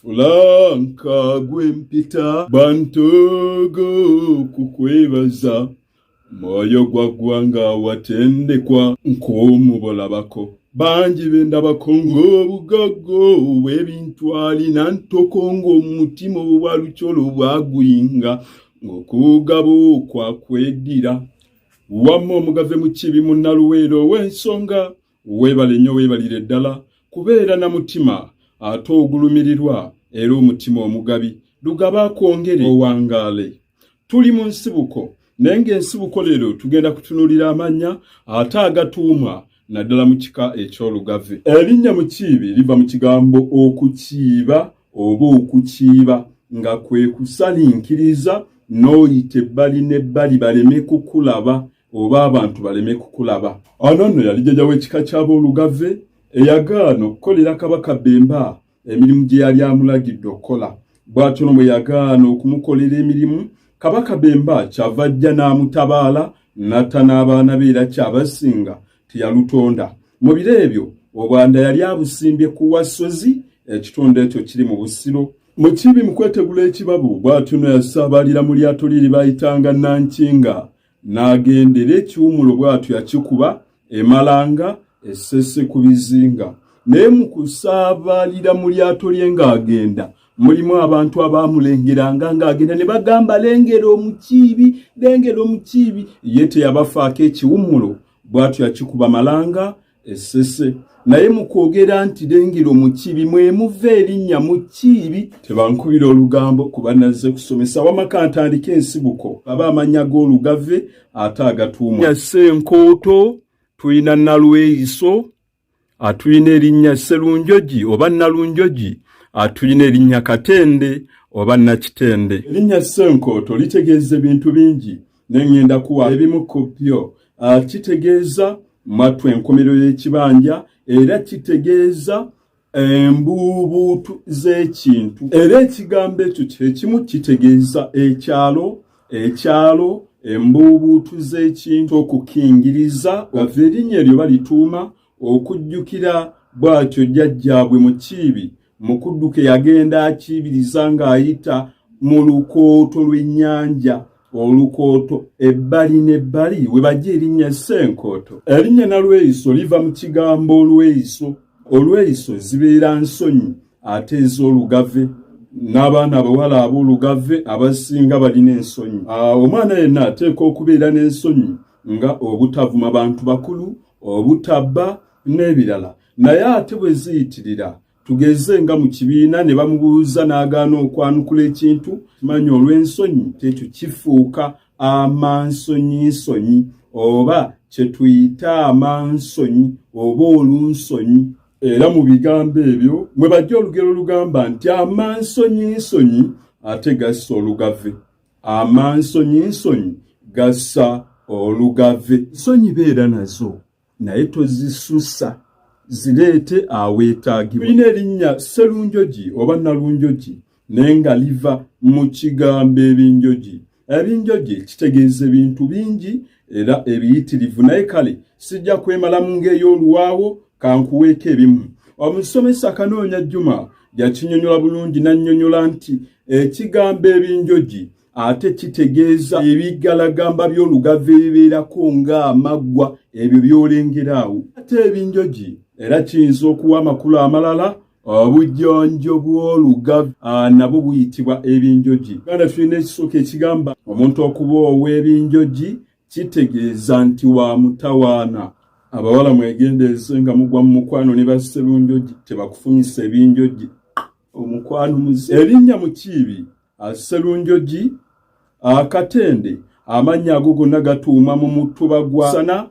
Fulanka gwe mpita bantogo kukwebaza mwoyo gwa ggwanga watendekwa nk'omubolabako bangi be ndabako ng'obugaggo bw'ebintu alina ntoko ng'omutima obwa lukyolo bwaguyinga ng'okuugaba okwa kweddira wamma omugave mu kibi munnaluweero ow'ensonga Weebale nnyo weebalire ddala kubeera na mutima ate ogulumirirwa era omutima omugabi lugaba akwongere owangaale tuli mu nsibuko naye ng'ensibuko leero tugenda kutunuulira amannya ate agatuumwa naddala mu kika eky'olugave erinnya mukiibi liva mu kigambo okukiiba oba okukiiba nga kwe kusalinkiriza n'oyita ebbali n'ebbali baleme kukulaba oba abantu baleme kukulaba. Ono nno yali jjaja w'ekika ky'aboolugave eyagaana okukolera Kabaka Bemba emirimu gye yali amulagidde okukola. Bw'atyo no bwe yagaana okumukolera emirimu, Kabaka Bemba kyava ajja n'amutabaala n'atta n'abaana be era kyabasinga teyalutonda. Mu biro ebyo Obwanda yali abusimbye ku Wassozi, ekitundu ekyo kiri mu Busiro. Mu kibi mu kwetegula ekibabu, bw'atyo no yasaabalira mu lyato lye lye baayitanga Nankinga. n'agendera ekiwumulo bw'atyo yakikuba emalanga essese ku bizinga naye mu kusaabaalira mu lyato lye ng'agenda mulimu abantu abaamulengeranga ng'agenda ne bagamba lengera omukiibi lengera omukiibi ye teyabafaako ekiwumulo bw'atyo yakikuba malanga esese naye mukwogera nti lengero mukibi mwemuva erinnya mukiibi tebankubira olugambo kuba nazze kusomesa wamaka ntandika ensibuko aba amanya g'olugave ate agatuuma yase enkooto tulina nalweyiso atulina erinnya sserunjogi oba nalunjogi atulina erinnya katende oba nakitende erinnya ssenkooto litegeeza ebintu bingi ne ŋŋenda kuwa ebimu ku byo ah, kitegeeza mattu enkomerero y'ekibanja era kitegeeza embuubuutu z'ekintu era ekigambo ekyo kyekimu kitegeeza ekyalo ekyalo embuubuutu z'ekintu okukingiriza ova erinnya eryo balituuma okujjukira bw'atyo jjajjaabwe mukiibi mu kudduka eyagenda akiibiriza ng'ayita mu lukooto lw'ennyanja olukooto ebbali n'ebbali we bajja erinnya ssenkooto erinnya nalweyiso liva mu kigambo olweyiso olweyiso zibeera nsonyi ate ez'olugave n'abaana abawala ab'olugave abasinga balina ensonyi omwana yenna ateekwa okubeera n'ensonyi nga obutavuma bantu bakulu obutabba n'ebirala naye ate bwe ziyitirira tugeze nga mu kibiina ne bamubuuza n'agaana okwanukula ekintu manya olw'ensonyi kyekyo kifuuka amansonyinsonyi oba kye tuyita amansonyi oba olunsonyi era mu bigambo ebyo mwe bajja olugero olugamba nti amansonyinsonyi ate gassa olugave amansonyi nsonyi gassa olugave nsonyi beera nazo naye tozisusa zireete aweetaagibwa tulina erinnya sserunjogi oba nalunjogi naye nga liva mu kigambo ebinjogi ebinjogi kitegeeza ebintu bingi era ebiyitirivu naye kale sijja kwemalamu ng'ey'oluwaawo kankuweeko ebimu omusomesa akanoonya juma yakinyonyola bulungi n'annyonyola nti ekigambo ebinjogi ate kitegeeza ebiggalagamba by'olugave ebibeerako ng'amaggwa ebyo by'olengeraawo ate ebinjogi era kiyinza okuwa amakulu amalala obujjonjo bw'olugavu ah, nabwo buyitibwa ebinjoji uganda tulina ekisooka ekigamba omuntu okuba ow'ebinjoji kitegeeza nti wa mutawaana abawala mwegendereze nga mugwa mu mukwano ne bassebunjoji tebakufumisa ebinjoji omukwano muzi erinnya mukiibi Sserunjogi, Katende, amannya ago gonna gatuuma mu mutuba gwa sana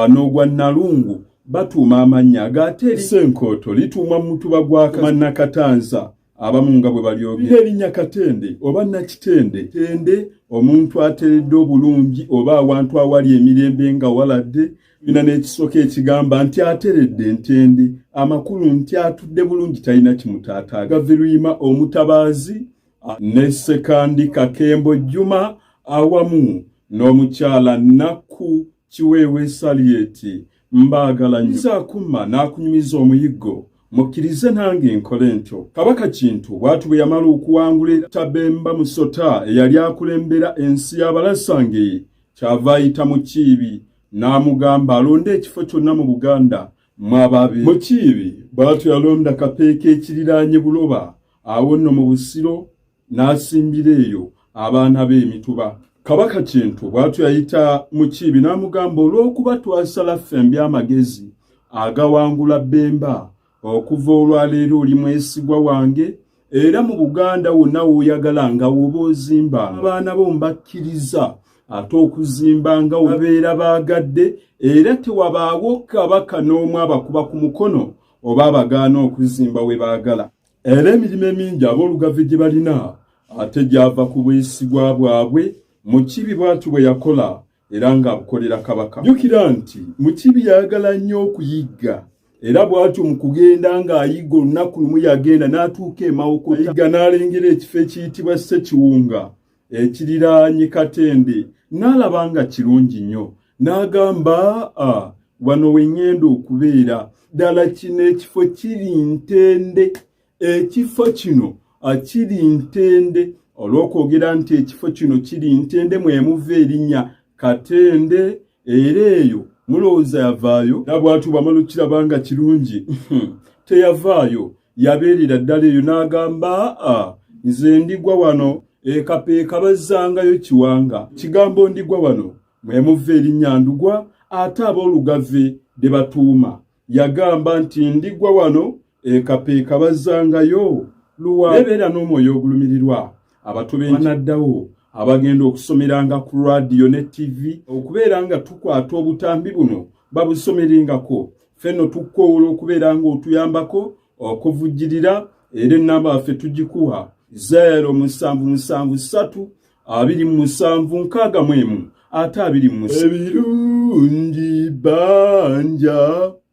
n'ogwa Nalungu batuuma amannya agaateri Ssenkooto lituuma mu mutuba gwa Mannakatanza abamu nga bwe balyogera erinnya Katende oba Nakitende tende omuntu ateredde obulungi oba awantu awali emirembe nga waladde tulina n'ekisooka ekigamba nti ateredde ntendi amakulu nti atudde bulungi talina kimutaata gaviruyima omutabaazi ne sekandi kakembo jjuma awamu n'omukyala nakku kiweewe saliyeti mbaagala nyizaakuma n'akunyumiza omuyiggo mukkirize nange nkole ntyo kabaka kintu bwatu bwe yamala okuwangula etabemba musota eyali akulembera ensi y'abalasangeye kyava ayita mu kiibi n'amugamba alonde ekifo kyonna mu buganda mwababe mukiibi bwatyo yalonda kapeeka ekiriraanye buloba awo nno mu busiro n'asimbira eyo abaana be emituba kabaka kintu bwatyo yayita mukiibi n'amugamba olw'okuba twasala ffe mby'amagezi agawangula bemba okuva olwaleero oli mwesigwa wange era mu buganda wonna woyagala nga woba ozimba abaana bo mbakkiriza ate okuzimba nga wabeera baagadde era tewabaawo kabaka n'omu abakuba ku mukono oba abagaana okuzimba we baagala era emirimu emingi aboolugave gye balina ate gyava ku bwesigwa bwabwe mu kibi bwati bwe yakola era ng'abukolera kabaka. Jjukira nti Mukiibi yayagala nnyo okuyigga era bw'atyo mu kugenda ng'ayigga olunaku lumu yagenda n'atuuka e Mawokota ayigga n'alengera ekifo ekiyitibwa Ssekiwunga ekiriraanye Katende n'alaba nga kirungi nnyo n'agamba a wano we ŋŋenda okubeera ddala kino ekifo kiri ntende ekifo kino kiri ntende olw'okwogera nti ekifo kino kiri ntende mwemuva erinnya katende era eyo mulowooza yavaayo nabwatu bamala okukiraba nga kirungi teyavaayo yabeerera ddala eyo n'agamba nze ndigwa wano ekapeeka bazzangayo kiwanga kigambo ndigwa wano mwemuva erinnya ndugwa ate ab'olugave de batuuma yagamba nti ndigwa wano ekapeeka bazzangayo luwa bebeera n'omwoyo ogulumirirwa abato benaddawo abagenda okusomeranga ku radiyo ne ttivi okubeera nga tukwata obutambi buno babusomerengako fenno tukkowoola okubeera ng'otuyambako okuvujjirira era ennamba yaffe tugikuwa 0 musanvu musanvu ssatu abiri mu musanvu nkaaga mu emu ate abiri mu ebirungi banja